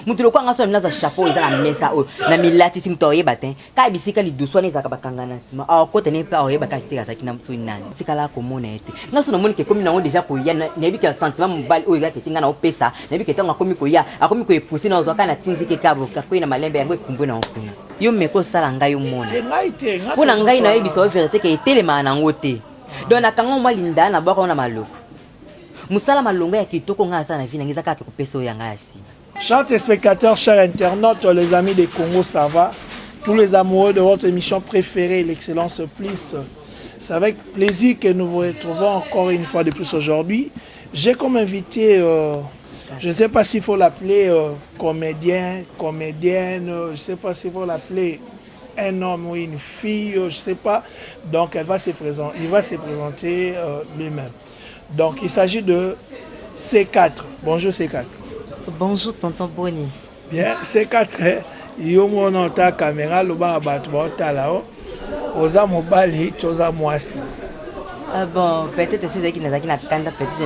moto lokola nga sona naza chapeau eza na mesa oyo na milatisi moto aoyeba te kaka bisika lidusu wana ezalaka bakanga na nsima aokota ne mpe aoyeba kaka te azalaki na soki nani tikala komona ye te nga so namoni ke ekomi nango deja koya nayebi ke sentiment mobali oyo ezalaka ete nga na opesa nayebi ke ntango akomi koya akomi koepuse na ozwa kaka na tindike kaboka kwei na malembe yango ekumbwe nango kuna yo meko osala ngai omona mpo na ngai nayebisa yo verité ke etelemaka nango te donc nakanga mwa linda na bwaka wana maloko Musala malonga ya kitoko nga nasala na vie na ngai eza kaka kopesa oyo ya ngai ya sima. Chers téléspectateurs, chers internautes, les amis de Congo, ça va Tous les amoureux de votre émission préférée, l'excellence plus. C'est avec plaisir que nous vous retrouvons encore une fois de plus aujourd'hui. J'ai comme invité, euh, je ne sais pas s'il faut l'appeler euh, comédien, comédienne, euh, je ne sais pas s'il faut l'appeler un homme ou une fille, euh, je sais pas. Donc elle va se présenter, il va se présenter euh, lui-même. Donc il s'agit de C4. Bonjour C4. Bonjour tonton Boni. Bien, C4, hein. yo mona ota caméra lobaka bato baotala o oh. oza mobali to oza mwasi ah bon peut-être soki ezalaki nazalaki na kanda peut-être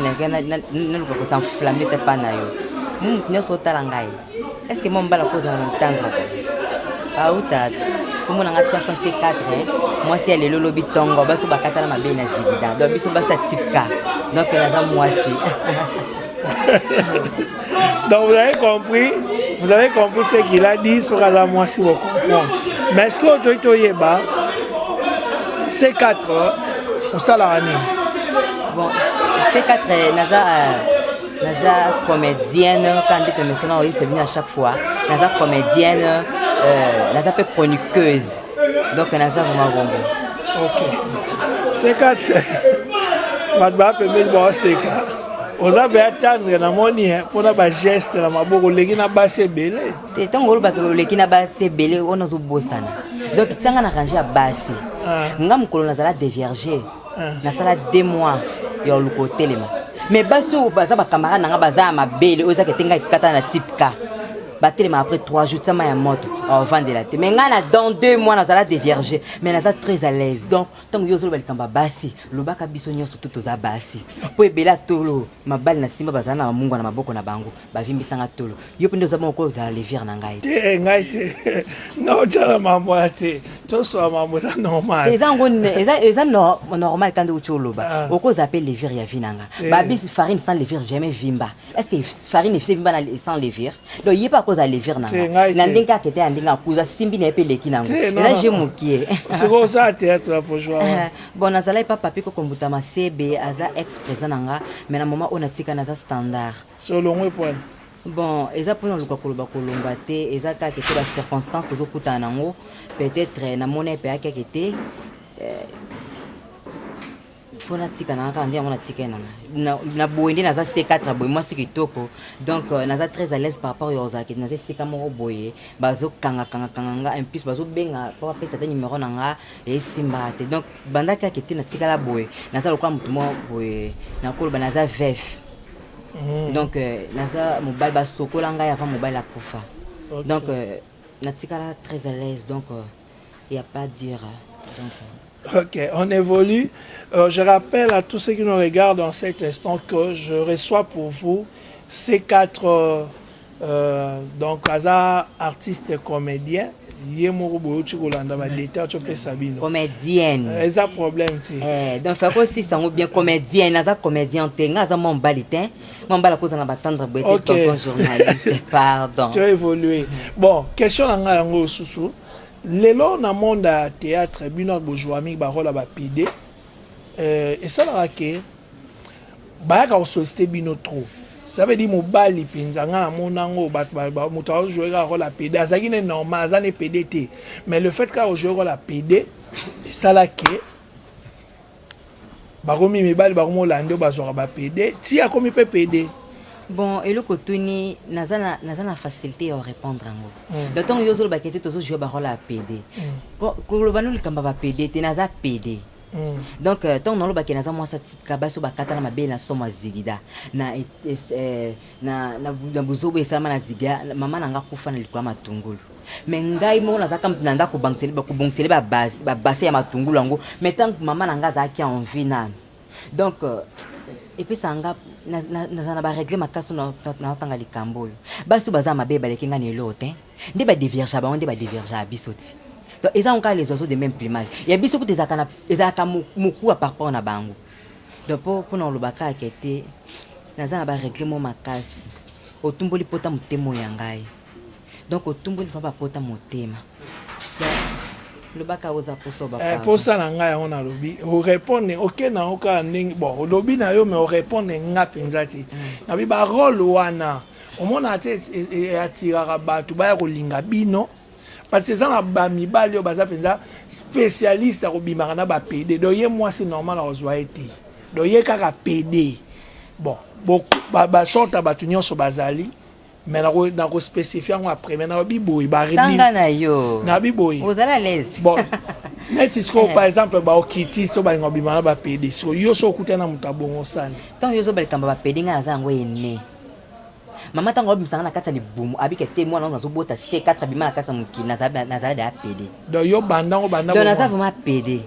naluka kosenflamme te pa na yo motu nyonso otala ngai Est-ce que moi mbala ko zana ntanga? Ah utatu. Komo na ngatia fanse 4. Moi si elle lolo bitongo baso bakata na mabe na zibida. Donc biso basa tipka. Donc elle a moi si. Donc vous avez compris, vous avez compris ce qu'il a dit sur la moi si vous comprenez. Mais est-ce que tu to yeba ces quatre au salarani? Bon, ces quatre naza euh, naza comédienne kaka nde tomesana oyebisa bino à chaque fois naza comédienne euh, naza mpe chroniqueuse donc naza vraimen bongo ok seka te bato baa pembeni baoseka oza mpe atendre namoni eh, mpona bageste na maboko oleki na basi ebele te ntango olobaka oleki na basi ebele wana ozobosana donc tianga na range ya basi ah. nga mokolo nazala devierge nasala deux mois ya oluka otelema mais basi oyo baza bacamarade na nga baza ya mabele oyo ezaka ete ngai kata na type ka batelema après 3 jours tia mai ya moto ovandela te mais ngai na dans 2 mois nazala devierge mais naza très à l'aise donc ntango yo ozoloba likambo ya basi lobaka biso nyonso to toza basi mpo ebela tolo mabali na nsima bazala na bamungwa na maboko na bango bavimbisa nga tolo yo mpe nde oza bongo kozala levire na ngai te ngai te nga otyana mambo ya te toswa mambo eza normal eza yango eza normal kande uti oloba ah. okozala mpe levire ya vi na nga babisi farine sans levire jamais vimba est ce que farine efise vimba sans levire donc ye mpe akozala levire na nga na ndenge kaka ete ya ndenge akuza simbi na ye mpe eleki nango eza je mokie sikoyo oza théâtre ya pojwa eh, bon nazalaki papa mpe kokombuta masebe aza ex présent na nga mais na moment oyo natika naza standard C'est au longwe point. Bon, eza pona luka koloba kolomba te, eza kaka ete ba circonstances tozo kutana nango, peut-être eh, na mona pe ake ake te. Eh, pona tika na kaka ndia mona tika na na na boye nde naza C4 boye mwasi kitoko. Donc euh, naza très à l'aise par rapport yo ozaki naza sika moko boye bazo kanga kanga kanga nga en plus bazo benga papa pesa ta numéro na nga et simba te. Donc banda kaka ete natikala boye naza lokola motu moko boye nakoloba naza veve mm. donc euh, naza mobali basokola ngai avant mobali akufa okay. donc euh, natikala très à l'aise donc il euh, n'y a pas dire donc, Ok, on évolue. Euh, je rappelle à tous ceux qui nous regardent en cet instant que je reçois pour vous ces quatre euh, Euh, donc aza artiste comédien ye moko boyoti kolanda badeta ti opesa bino comédienne euh, eza problème ti eh, donc fai kosisa yango bien comédienne aza comédien te nga aza mwa mobali te mwa mobali akoza na batendre boye te tonton journaliste pardon tu évolue bon question na ngai yango osusu lelo na monde ya théâtre bino bozwami barole ya bapede Euh, esalaka ke bayaka kosolicite bino trop ça veut dire mobali mpenza ngai namona yango bato moto aojoue kaka kola pede azalaki ne normal aza ne pede te mais le fait kaka ojoue kola pede esala ke bakomi mibali bakomi olande oyo bazwaka bapede ti akomi mpe pede bon eloko tuni naza na facilité ya orépondre yango donc ntango yo ozolobaka ete tozojue barole ya pede koloba no likambo ya bapede te naza pede donc ntango nalobake naza mwasi atipika basi oyo bakata na mabele na somo ya zigida na bozobo esalama na zigida mama na nga kufa na likolo ya matungulu me ngai moko nazalaka moto na ndako kobongisele babase ya matungulu yango me ntango mama na ngai azalaki envi nano donc euh, epesaka nga naza na baregle makasi naotanga likambo oyo basi oyo baza mabe baleki nga na eloo te nde badevirgea bango nde badevirgea biso ti donc eza ngo kaka les oiseaux de même plumage ya biso kuta ezalaka mokuwa par rapport na bango donc mpo mpona koloba kaka ke te naza na baregle mo makasi otumboli mpota motema oyo ya ngai donc otumboli fa bapota motema lobaka oza poso ba eh, posa na ngai yango nalobi orepondre oke na yo kaka ndenge bon olobi na yo me orepondre nga mpenza te mm. nabi barole wana omonaka te e, e, e, atiraka bato baya kolinga bino parce eza na bamibali oyo baza mpenza spécialiste ya kobimaka na bapede donc ye mwasi normal akozwa ye te donc ye kaka pede bon basorte ya bato nyonso bazali mais nako nako specifie yango après mais nabi boye ba tanga na yo nabi boye ozala l'aise bon neti sikoyo par exemple baokitisi to balinga obima na bapede siko yo so okuta na moto abongosani ntango yo ozoba likambo bapede ngai aza yango ene mama ntango aobimisanga na kati ya libumu abika te mwana wango azobota se 4 abima na kati ya mokili nazala deya pede donc yo bandango bandadonc naza vraiment pede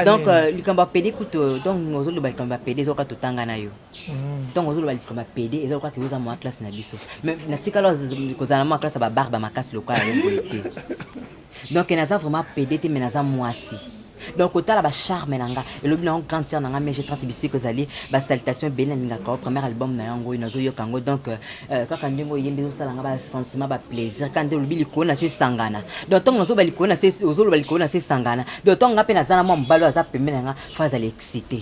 donc euh, likambo ya pede kutu donc ozoloba likambo ya pede ezoka totanga na yo ntango ozoloba likambo ya pede eza lokola oza mwa classe na biso mais natikala kozala na mwa classe ya babarbe ya makasi lokola yo boye te donc naza vraiment pede te mais naza mwasi donc kotala bacharme na nga elobi na yango grande sœur na nga mege 30 bisiko ezali basalutation ebele nalingaka o premier album na yango oyo nazoyoka yango donc euh, euh, kaka ndenge oyembi ezosala nga basentiment baplaisir kaka nde olobi likolo na se esangana donc ntango nazoba likolo na se ozoloba likolo na se esangana donc ntango nga mpe naza na mwa mobali oyo aza pembe na nga fo azala excité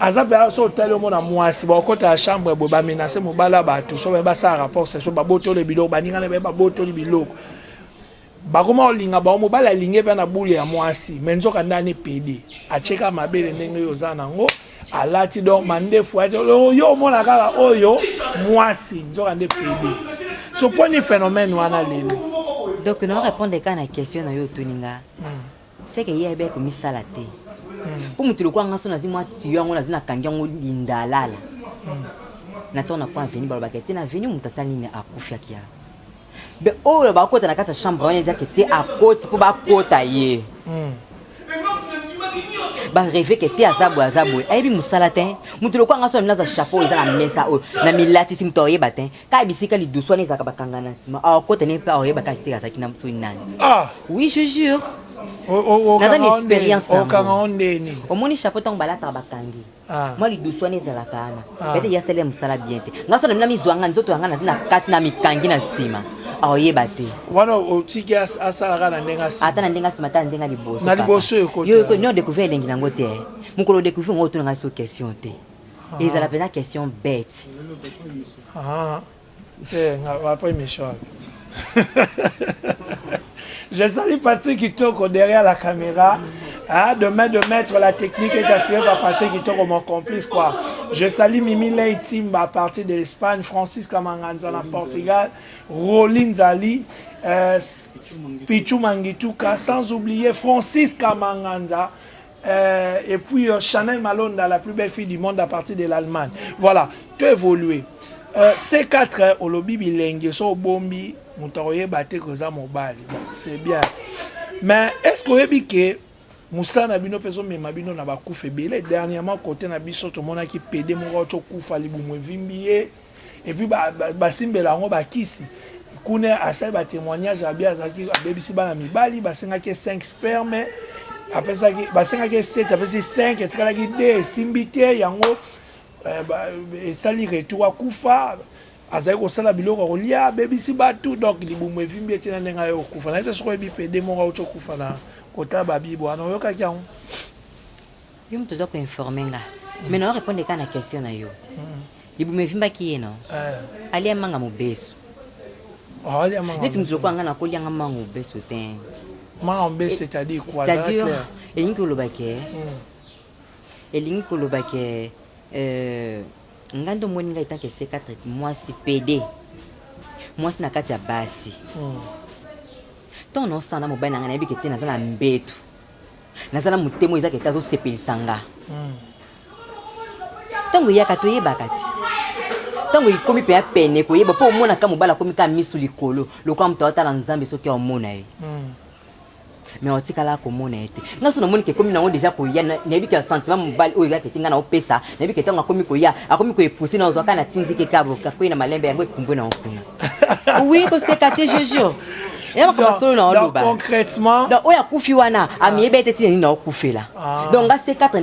aza mpenza so otali omona mwasi bakokota ya chambre boye bamenase mobali ya bato so baye basala rapport sesio babotoli biloko baninga na baye babotoli biloko bakoma kolinga bango mobali alingi mpe na bule ya mwasi me nzoka nde ani pede atyeka mabele ndenge oyo oza nango alati donc mandefu ati yo omona kaka oyo mwasi nzoka nde pede soponi phénomène wana lelo donc na orépondre kaka na question na yo otuni nga hmm. seke ye ayebi akomisala te mpo moto lokola nga so nazi mwa tiyo yango nazi nakangi yango lindalala natiango na mpo aveni balobaka ete na veni moto asali nini akufi akia be oyo bakota na kati ya chambre wana ezaki te akoti mpo bakota ye hmm. bareve ke te aza boye aza boye ayebi mosala te moto lokola nga so na milazwa chapeau eza na mesa oyo na milatisi moto akoyeba te kaka bisika lidusu wana ezalaka bakanga na nsima akota ne mpe aoyeba kaka te azalaki na mosoi nani ah! oui je jure naza na expérience nango omoni chapeau ntango balataka bakangi ah. mwa lidusu wana ezalaka wana ah. bete yasala ya mosala bien te nga so na mina mizwanga nzoto yanga nazi na kati na mikangi na nsima aoyeba te wana otiki asalaka na ndenge ata na ndenge asima ata na ndenge liboso na liboso yo yo découvrir elengi nango te mokolo découvrir ngo otunanga so question te Ah. ezala pena question bête ah. te nga ba après mission je salue Patrick Kitoko derrière la caméra Hein, de main de maître, la technique est assurée par Patrick Itoko, mon complice. Quoi. Je salue Mimi Ley Timba à partir de l'Espagne, Francis Kamanganza na Portugal, Rolin Zali, euh, Pichu Mangituka, sans oublier Francis Kamanganza. Euh, et puis euh, Chanel Malonda, la plus belle fille du monde à partir de l'Allemagne. Voilà, tu évolué. Euh, C4, euh, olobi bilenge, so bombi, mutaroye bate koza mobali. Bon, c'est bien. Mais est-ce qu'on dit que mosala na bino mpe ezomema bino na bakufa ebele dernièrement kote na biso tomonaki pede moko aotokufa libumu evimbi ye et puis ba, ba, basimbela yango bakisi kuna asali batémoignage abi azalaki abebisi bana mibali basengaki 5 sperme apesaki basengaki 7 apesi 5 etikalaki 2 esimbi te yango eh, esali retour akufa azali kosala biloko ya kolia abebisi bato donc libumu evimbi ete na ndenge aye kokufa naye te soki oyebi pede moko auti okufa na kotala babibo wana oyokaki yango Yo mutu oza ko informer nga. Mais na répondre kaka na question na yo. Libumu evimbaki ye non? Eh. Alia manga mobesu. Oh, alia manga. Neti mutu lokola nga na kolia nga manga mobesu te. Manga mobesu c'est-à-dire quoi? C'est-à-dire elingi koloba ke hmm. elingi koloba ke euh nga ndo moni nga etanke C4 mwasi PD. Mwasi na kati ya basi. Hmm. Ton osana mobali na nga nayebi ke te naza na mbetu. naza na motema eza kete azosepelisa nga ntango eyaka toyebaka ti ntango ekomi mpe ya pene koyeba mpo omonaka mobali akomi kaka miso likolo lokola moto aotala nzambe soki aomona ye hmm. me otikala komona ye te nga so namoni kekomi nango deja koya nayebi ke sentiment mobali oyo eyaka ete nga naopesa nayebi ke ntango akomi koya akomi koepuse na ozwaka na tindike kaboka kwei na malembe yango ekumbwe na okuna oui koseka te je jure ya makambo solo na oloba concrètement donc oyo akufi wana amiyebi ete ntina nini naokufela ah. donc nga se katre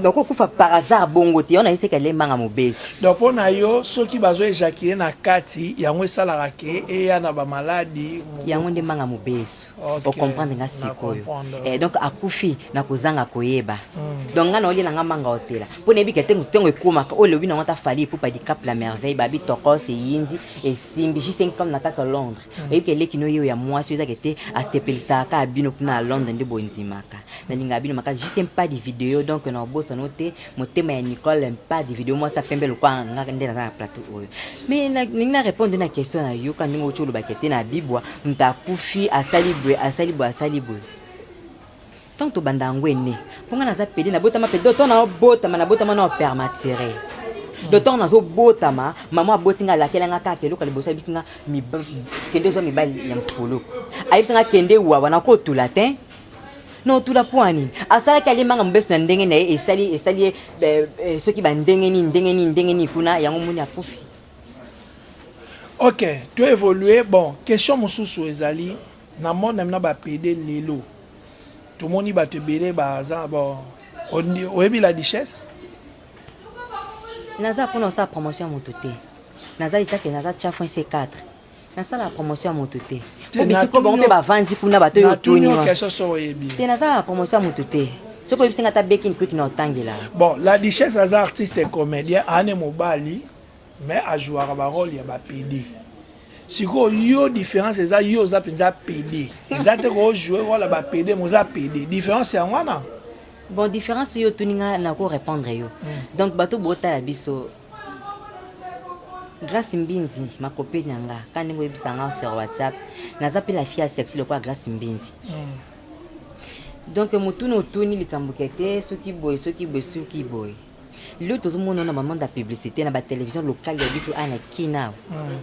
nakokufa par hasard bongo te yo na yeseka elembanga mobesu donc mpo na yo soki bazo ejakile na kati yango esalaka ke eya na bamaladi yango nde mbanga mobesu Okay, okomprendre nga sikoyo eh, donc akufi na kozanga koyeba mm. donc nga naolie na nga manga otela mpo nayebi ke ntengo ntongo ekomaka oyo elobi nango ata fali epupa dicap la merveille babi tokos eyindi esimbi juste income na kati ya londres mm. oyebi ke eleki noyeyo ya mwasi oyo ezake te asepelisaka kaka bino kuna ya londres nde bondimaka nalingaka bino makasi juste mpa di video donc naobosano te motema ya nicole mpadi video mwasi apembe lokola nga nde naza na plateau oyo mais nalingi na répondre na question na yoka ndenge oti olobaki te na bibwa moto akufi asali boye asali boye asali boye ntango tobanda yango ene mpo ngai naza pede nabotama pede doto naobotama nabotama na opermatire do ntango nazobotama mama aboti ngai alakela ngai kaka eloko liboso ayebisi ngai kende ozwa mibali ya mfuluku ayebisi ngai kende wawa nakotula te non tula mpo ya nini asalaki alembanga mobesu na ndenge na ye esali esali ye eh, eh, soki bandenge nini ndenge nini ndenge nini kuna yango moni akufi ok to évolue bon question mosusu ezali na monde na bapede lelo tomoni bato ebele baza bon oyebi la duchesse naza mpona osala promotion ya moto te naza litake naza tya fin c4 nasala promotion ya moto te obisiko bango mpe bavandi kuna bato oyo otuni te nasala promotion ya moto te soki oyebisi nga ata beki mpuki na otangela bon la duchesse aza artiste et comédien ane mobali mais ajouaka barole ya bapede sikoyo yo différence eza yo oza mpenza pede eza te kojoue role ya bapede mais oza pede différence yango wana bon différence yo otuni nga nako répondre yo hmm. donc bato botala biso Grace Mbinzi makope na nga ka ndenge oyebisa nga sur WhatsApp naza mpe la fille ya sexy lokola Grace Mbinzi mm. donc motuna otuni likambo ke te soki boye soki boye soki boye lelo tozomona na bamande ya publicité na batelevision lokale ya biso ana kina mm.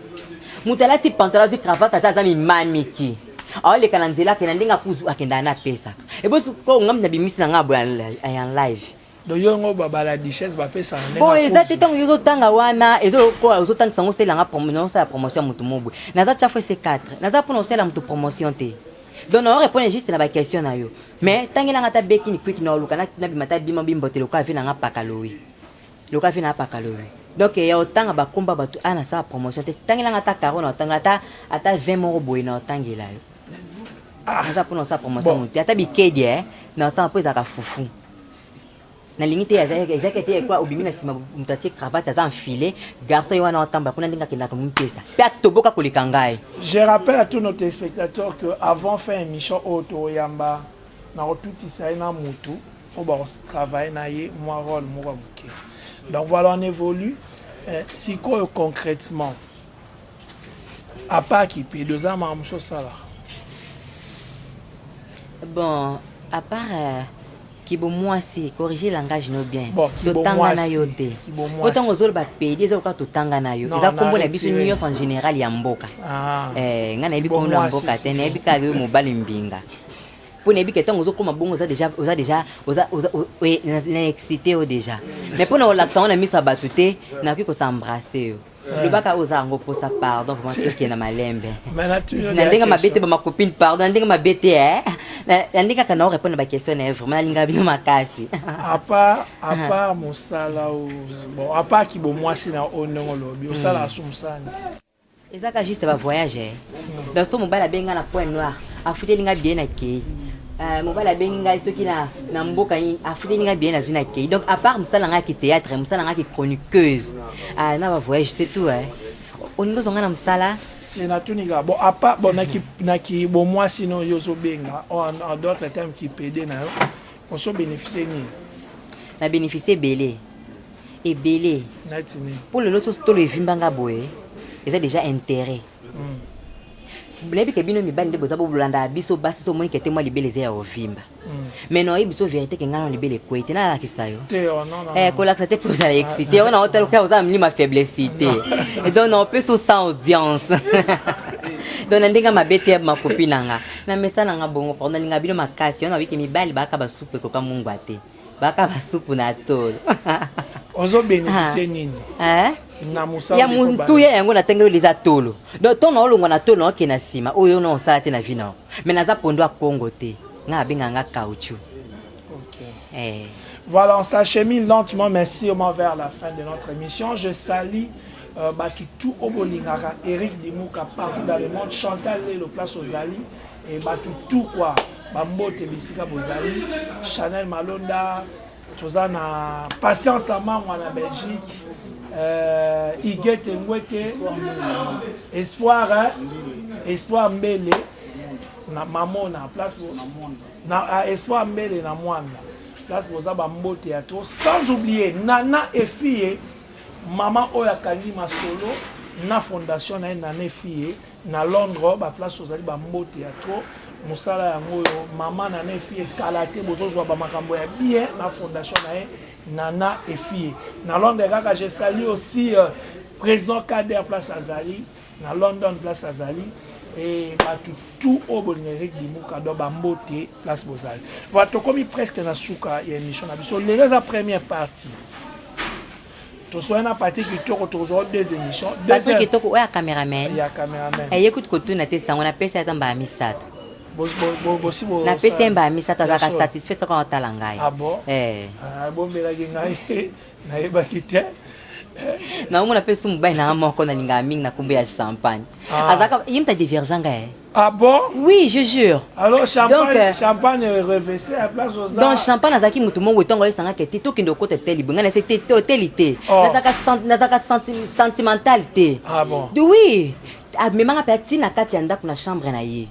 moto alati pantola azwi cravate ata aza mimamiki aoleka na nzela akenda ndenge akenda na apesaka ebosi ko ngambi na bimisi na ngai aboya en live doyongo babala duchesse bapesa bon eza te ntango ozotanga wana ozotangisa yango osalelanga naosala promotion ya motu mobwe naza chafu ese 4 naza mpona osalela motu promotion te donc nao répondre juste na baquestion na yo mais ntangelanga ata bekini kwiki naoluka nabima ta bima bimbote lokola ve nanga pakalowi lokola ve nanga pakalowi donc ya otanga bakomba bato a nasala promotion te ntangelanga ata caro na otangela ata ata 20 moko boye na otangela yo ah. naza mpona osala promotion motu ata bikedi eh, na osala mpo ezalaka fufu nalingi te ezalaki te ekwa obimi na nsima moto atie cravate aza enfile garçon ye wana otambala kuna ndenge akendaka mipesa mpe atoboka koleka ngai je rappelle à tous nos téléspectateurs que avant fin émission oyo toyamba nakotutisa ye na motu mpo bakotravaille na ye mwa role moko ya moke donc voilà on évolue eh, sikoyo concrètement apart kipedo eza makambo mosusu osalaka bon apart euh, kibo mwasi corrige langage no bien bon, totanga na yo te po ntango ozoloba pedi eza lokola totanga na yo eza nkombo na biso nyonso en général ya mboka ah. eh, ngai nayebi nkombo ya mboka te nayebi kaka yo mobali mbinga mpo nayebi ke ntango ozokoma bongo oza deja oza deja oza oza na excité yo deja mais mpo na kolakisa yango na miso ya bato te nakoki kosembrasse yo lobaka oza yango posa pardon vraimen toke na malembe na ndenge mabe te bamacopine pardon na ndenge mabe te eh. na ndenge kaka nao répondre na baquestion na ye vraimen nalingaka bino makasi apart ah. mosala bon apart kibomwasi na oyo ndenge olobi osalaka hmm. sumsani eza ka juste bavoyage eh. hmm. donc so mobali abengi nga na point noir afuteli nga bien akei Euh, mobali abengi ngai soki na, na mboka afuteli ngai bien nazwi na kei donc apart mosala ngai ya kithéâtre mosala ngai ya kichroniqueuse Ah, na ba voyage c'est tout hein. Olingi ozonga na mosala? Eh, natuni kaka bon apa bon naki naki bon mwasi no yo ozobenga oh, en en d'autres termes kipede na yo oso bénéficie nini Na bénéficier ebele. Ebele. neti nini mpo lelo soso tolo evimba nga boye eza déjà intérêt boyebi ke bino mibali nde boza bolandaka biso basi so omoni ke te mwa libele eza ya ovimba mais non oyebi so vérité ke ngai na libele ekwei te nalakisa yo kolakisa te mpo ozala excité ona otala okaa oza na milima faiblesse te donc na opesi osa audience donc na ndenge mabe te makopi na nga na mesa na nga bongo pardon nalinga bino makasi ona oyike mibali baka basupu ekoka mungwa te baka basupu na tolo ozobénéficie nini ya motuya yango natangeli eza tolo donc ntongo naolongwa na tolo naokende na nsima oyo ona osala te na vi nao mais naza pondo ya congo te nga abenga nga caoutchou okay. eh. voilà on s'achemine lentement mais sûrement vers la fin de notre émission je salis euh, bato tout oyo bolingaka eric dimuka partout dans le monde chantal lelo place ozali e bato tout kua bambote bisika bozali chanel malonda toza na patience amangwa na belgique euh, igete ngwete espoir hein? espoir mbele na mamona place na ah, espoir mbele na mwanda place boza bambote ya to sans oublier nana efie mama oyo akangi masolo na fondation na ye nana efie Na Londres ba place ozali ba mbote ya trop musala yango oyo maman nana efie kala te bozozwa ba makambo ya bien na fondation na ye nana efie na Londres kaka je salue aussi euh, président Kader place azali na London place azali et bato tout oyo bolinga eric dimuka do bambote place bozali voilà tokomi presque na suka ya émission na biso lelo eza première partie toswani na pati kitoko tokozwa deux émission pati kitoko oyo ya cameraman ya cameraman eye eh, kutu kotuna te sango napesi ata mbala misato napesi ye mbala misato azalaka satisfait soko atala ngai ah eh. ah, abombelaki ngai nayebaki te naomona mpe su mobali na nga moko nalingaka mingi na kombo ya champagne ah. azalaka ye mta divergent ngai eh. Ah bon Oui, je jure. Alors champagne, donc, euh, champagne revêché à place aux Donc champagne azaki mutu mongo tongo esanga ke te tokende okota te libonga na se te hôtel te. Oh. Nazaka nazaka sentimental te. Ah bon. De oui. Amemanga ah, pe atina kati ya ndako na chambre na ye.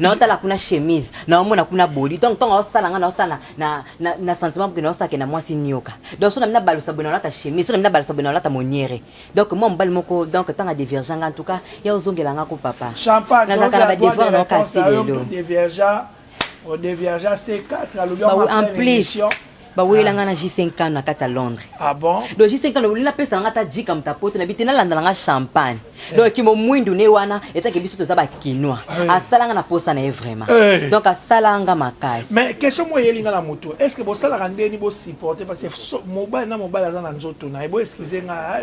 na otala kuna chemise na omona kuna boli donc ntongo osala nga na osala na, na, na sentiment boke na osake na mwasi nioka donc so na mina balusa boye na olata chemise so na mina balusa boye na olata moniere donc moi mobali moko donc tanga divergent nga en tout cas ya ozongela nga ko papa nazalaka na badevoir na okasi lelo en plus baweyela ah. nga na j5 kano na kati ya londres ah do j5 kano olina pesa nanga ata jika moto apoto na bite nalandala nga champagne eh. donc kimo mwindu ne wana etake biso toza bakinois eh. asala nga na posa na ye vraiment eh. donc asala nga makasi mais question moyeli nga na moto est ce que bosalaka ndeni bosupporte parce so mobali na mobali aza na nzoto na ye bo excuse nga ah,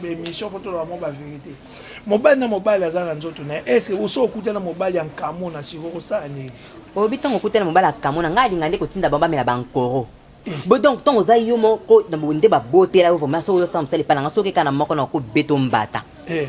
ba émission faut toloba mwa ba vérité mobali na mobali aza na nzoto na ye est ce que oso okuta na mobali ya nkamo na siko kosala nini oyebi ntango okuta na mobali ya nkamo na ngai alinga nde kotinda bango bamela bankoro eh. bo donc ntango oza yo moko nde babotela yo vraimen soki ozosala mosala epai na ngai soki ekana moko na kobeto mbata eh.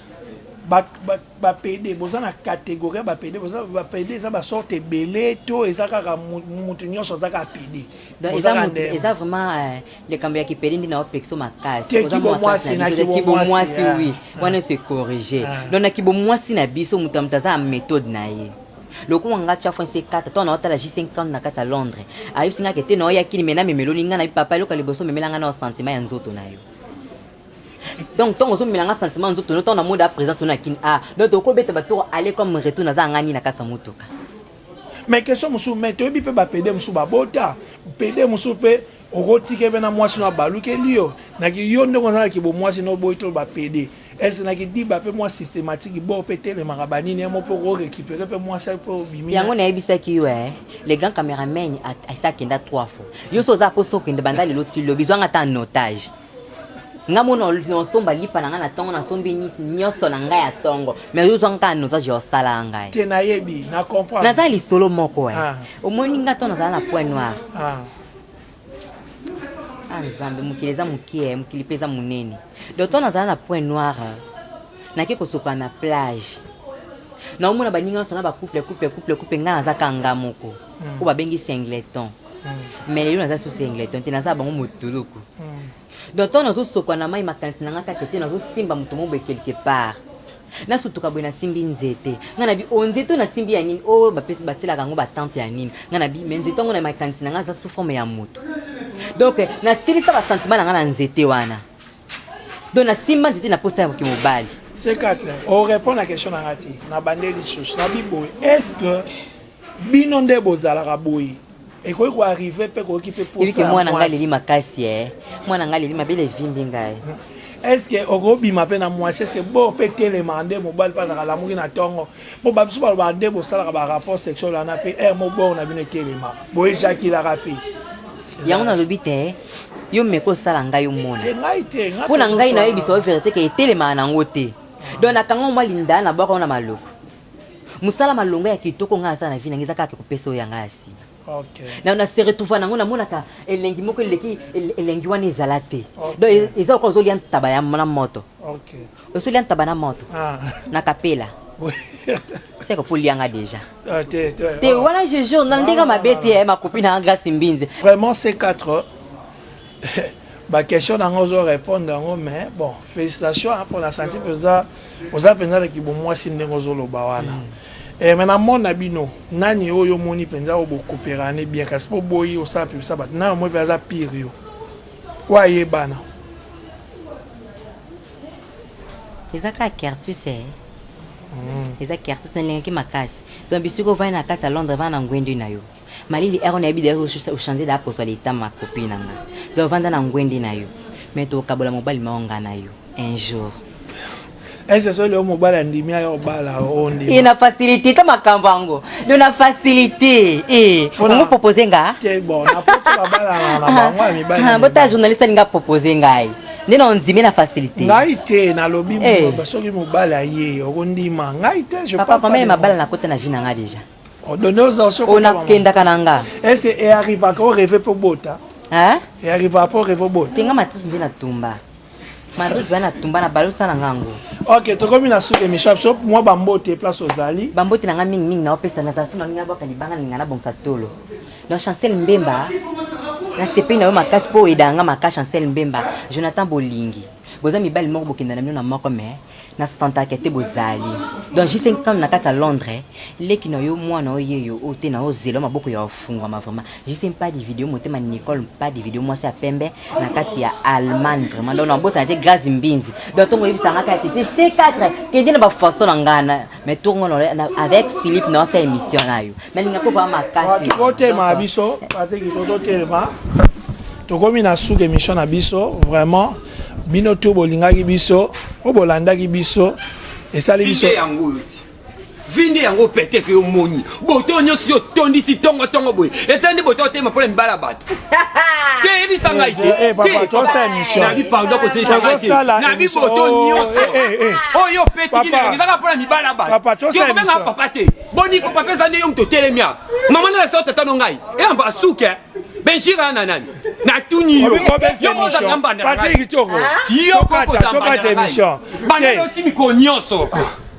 ba, ba, ba pede boza na catégorie ya ba pede boza ba pede eza ba sorte ebele to eza kaka mutu nyonso aza kaka pede donc eza mutu eza vraiment euh, likambo ya kipede nde na opekso makasi oza mwasi na kibo mwasi ah. oui ah. wana se corriger ah. donc na kibo mwasi na biso mutu ya mutu aza méthode na ye lokola nga tya fo nse kata to na otala ji 50 na kati ya londres ayebisi nga ke te na oyakini me na memeloni nga na papa eloko ya liboso memela nga na osentiment ya nzoto na yo donc ntango ozomela nga sentiment nzoto no ntango na mode ya présence ono ya kini a ah, donc tokobeta batoro aller comme retour naza nga nini na kati ya motuka mais question mosusu mai toyebi mpe bapede mosusu babota pede mosusu mpe okotike mpe na mwasi no abalukeli yo naki yo ndenge oza na kibomwasi no oboyi to bapede ese na kidiba mpe mwa systématique bo mpe telemaka banini yamo mpe okorekipere mpe mwasi mpe obimi yango nayebisaki yo e le grand cameraman asi akenda trois fois yo so oza mposa okende banda lelo ti lobi zwanga ata en otage nga mona nosomba lipa na ngai na ntongo nasombi nyonso na ngai ya ntongo mai ozozwa nkaa nozaje osalaka ngai te nayebi na comprendre naza lisolo moko e ah. omoni nga nto nazala na point noir ah. ah, nzambe mokili eza mokie eh, mokili mpe eza monene donc nto nazala na point noir nake kosokola na plage naomona baninga nyonso na bacouple couple couple couple ngai naza kanga moko hmm. oyo babengi singleton mais lelo naza susu engleton te naza bango motuluku donc ntango nazosokwa na mai makanisi na ngai kaka ete nazosimba moto moboye quelque part nasutuka boye nasimbi nzete ngai nabi o oh, nzete oyo nasimbi ya nini oyo oh, bapesi batielaka yango batante ya nini ngai nabi me nzete yango na makanisi na ngai aza sous forme ya moto donc eh, nasilisa basentiment na ngai na nzete wana donc nasimba nzete na posa ya moki mobali c4 orépondre na question na ngai te na bande lisusu nabi boye est ce que bino nde bozalaka boye ekoki ko arrive mpe koyoki mpe posa mwana ngai leli makasi e mwana ngai leli mabele evimbi ngai estce okobima mpe na mwasi estce bo mpe telemaka nde mobali mpe azalaka alamuki na ntongo mpo babiso balobaka nde bosalaka barapport sexuel wana mpe ere mobor na bino etelema boejakilaka mpe yango nalobi te yo meko osala ngai omona mpo na ngai nayebisa yo verité ke etelemaka nango te donc nakanga mwa linda na bwaka wana maloko musala malonga ya kitoko ngai nasala na vie na ngai eza kaka kopesa oyo ya ngai ya nsima Okay. na, na se retrouva nango namonaka elengi moko eleki elengi wana ezala te okay. donc e, eza okoka ozolia ntaba ya na moto okay. osolia ntaba na moto ah. na kapela seke polianga déjà ah, te, te, te ah. wana je jour na ndenge mabe te eh, makopi na grace mbinzi vraiment c4 ba question na nga ozo répondre yango mais bon félicitation hein, pona santi mpenza oza mpenza na kibomwasi ndenge ozoloba wana mm. e, eh, me na mona bino nani oyo omoni mpenza oyo bokoperane bien kasi mpo boyi osala pibisa bato nayo moi mpe aza pire yo oyo ayebana eza kaka kertus e eza kertus nalingaki makasi donc bisiko ovandi na kati ya londres vana na ngwendu na yo Malili ero nayebi deja ochange da poso leta ma copine na nga donc vanda na ngwende na yo mais tokabola mobali mao nga na yo un jour ese so leo mobali andimi ayo obala ondi e na facilité ta makambo yango do na facilité e ongo propose nga te bon na poto babala na bango ya mibali ah, bota journaliste alinga propose ngai nde na ondimi na facilité ngai te nalobi eh. soki mobali aye okondima ngai te je papa mabala nakota na vie na ngai déjà onakendaka na nga ese earrivaka o reve mpe obota earrivaka mpe o reve obota te nga matrice nde natumba matrice baya natumba na balosa na nga yango ok tokomi na suka emission ya biso mwa bambote place ozali bambote na nga mingimingi naopesa nazala so nalingi nabwaka libanga nalinga nabongisa tolo donc chancel mbemba nasepeli na yo makasi mpo oyedaka nga maka chancel mbemba jonathan bolingi boza mibali moko bokenda na bino na moko mais na santaka te bozali donc jise ntango na kati ya londres leki na yo mwana oyo yeyo oyo te na ozela maboko ya ofungwama vraiment jise mpadi video motema nicole mpadi video mwasi ya pembe na kati ya allemagne vraiment donc nabosana te grace mbinzi donc ntongo oyebisangaka ya tete c4 kende na bafaso na ngana mais tour ngo avec philippe na osala émission nayo nalinga mpe vraimen makasi totelema biso bateki totelema tokomi na suka émission na biso vraiment bino tour bolingaki biso oyo bolandaki biso esali biso vinde yango pete ke omoni boto nyonso yo tondisi tongo tongo boye etani boto otema mpo na mibala ya bato te yebisa ngai tenabi pardon kozelisa ngai te nabi boto nyonso oyo opetiki ezaka mpo na mibala ya bato okobenga papa te boniko papa eza nde yo moto otelemia mama na lesa otata no ngai eyamba asuke benjira na nani natuni yo yokozanga mbanda yo kokozanga mbanda na ngai banda yoti mikolo nyonso